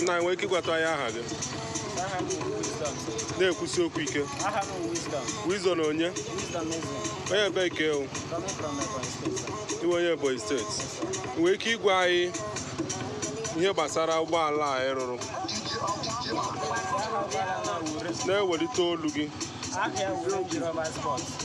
nna ị nwere ike ịgwatụ anyị aha gị Aha m bụ Wisdom. na-ekwusi okwu ike Aha m bụ Wisdom. Wisdom onye Wisdom Eze. onye ebee ka ị wụ Coming from Ebonyi State. sir. ị wụ onye ebonyi steeti i nwere ike ịgwa anyị ihe gbasara ụgbọala a ị rụrụ Aha ụgbọala a wụ Range. na-ewelite olu gị Aha ya wụ Range Rover Sports.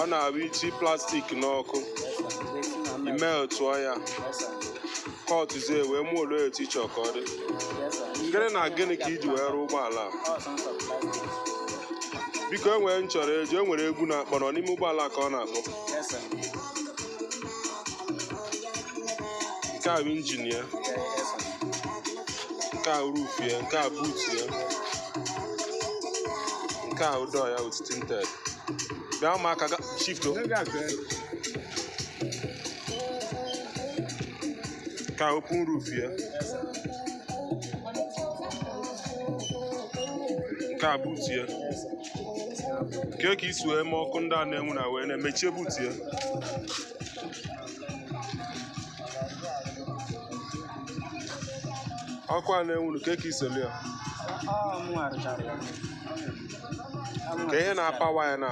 ọ na-abụ iti plastik n'ọkụ i meltụọ ya kọtụzie wee moluo etu ị chọ ka ọ dị gịnị na gịnị ka i ji wee rụọ ụgbọala a biko e nwere nchọrọ eji e nwere egwu na-akpọ nọ n'ime ụgbọala ka ọ na-akpọ nke a bụ injin ya nke a roof ya nke a boot ya nke a wụ door ya with tinted bịa ụmụaka a shift o. nke a open roof ya nke a boot ya kee ka i si wee mee ọkụ ndị a na-enwu na wee na-emechie boot ya ọkụ a na-enwuru kee ka i si lụ ya kee ihe na-apawa ya na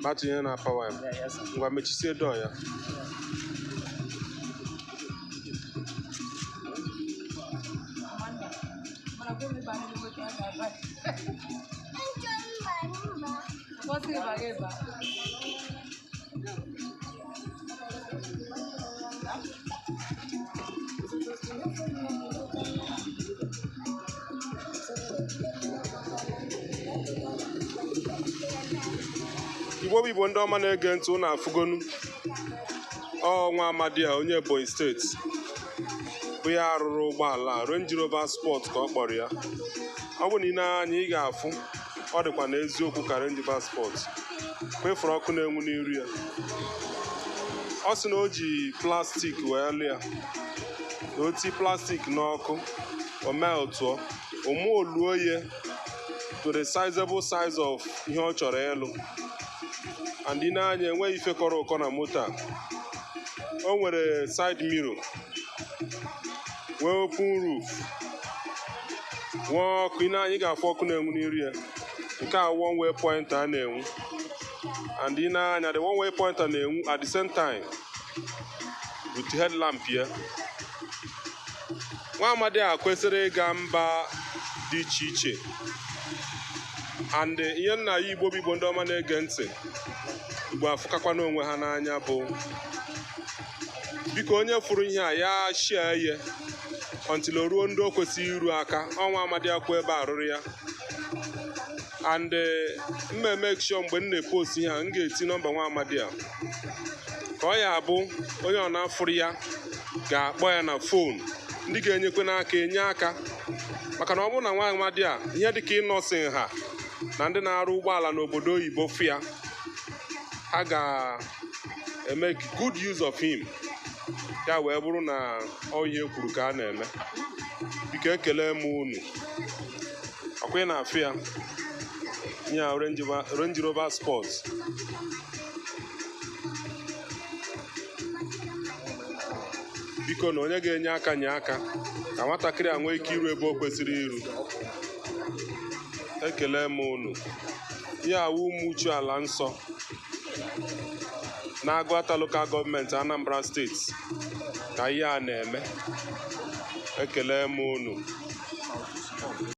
batịrị ihe na-apawa ya ngwa mechisie door ya What's it about? igbo bụ igbo ndị ọma na-ege ntị ụnụ afụgonu o nwa amadi a onye ebonyi steeti bụ ya rụrụ ụgbọala Range Rover Sport ka ọ kpọrọ ya ọ bụ na i nee anya ị ga-afụ ọ dịkwa n'eziokwu ka Range Rover Sport kwa ị fụrụ ọkụ na-enwu n'iru ya ọ sị na o ji plastik wee lụ ya na o ti plastik n'ọkụ o meltụọ o moluo ya to the sizable size of ihe ọ chọrọ ịlụ and i nee anya enweghị ife kọrọ ụkọ na moto a o nwere side mirror nwee open roof nwee ọkụ i nee anya ị ga-afụ ọkụ na-enwu n'iru ya nke a one way pointer na-enwu and i nee anya the one way pointer na-enwu at the same time with headlamp ya nwa amadi a kwesịrị ịga mba dị iche iche and ihe m na-ayọ igbo bụ igbo ndị ọma na-ege ntị igbo afụkakwana onwe ha n'anya bụ biko onye fụrụ ihe a ya shia ihe until o ruo ndị o kwesịrị iru aka ọ nwa amadi a kwụ ebe a rụrụ ya and m ma-emake sure mgbe m na-epost ihe a m ga-eti nọmba nwa amadi a ka ọ ya-abụ onye ọbụna fụrụ ya ga-akpọ ya na fon ndị ga-enyekwanụ aka enye aka maka na ọ bụrụ na nwa amadi a ihe dịka Innoson ha na ndị na-arụ ụgbọala n'obodo oyibo fụ ya ha ga emake good use of him ya wee bụrụ na ọ ihe e kwuru ka a na-eme biko ekele m unu ọkwa ị na-afụ ya ya Range Rover Sport bikonụ onye ga-enye aka nye aka ka nwatakịrị a nwee ike iru ebe o kwesịrị iru ekele m unu ihe a wụ Ụmụchu ala nsọ n'Agụata Local Gọọmenti Anambra Steeti ka ihe a na-eme ekele m unu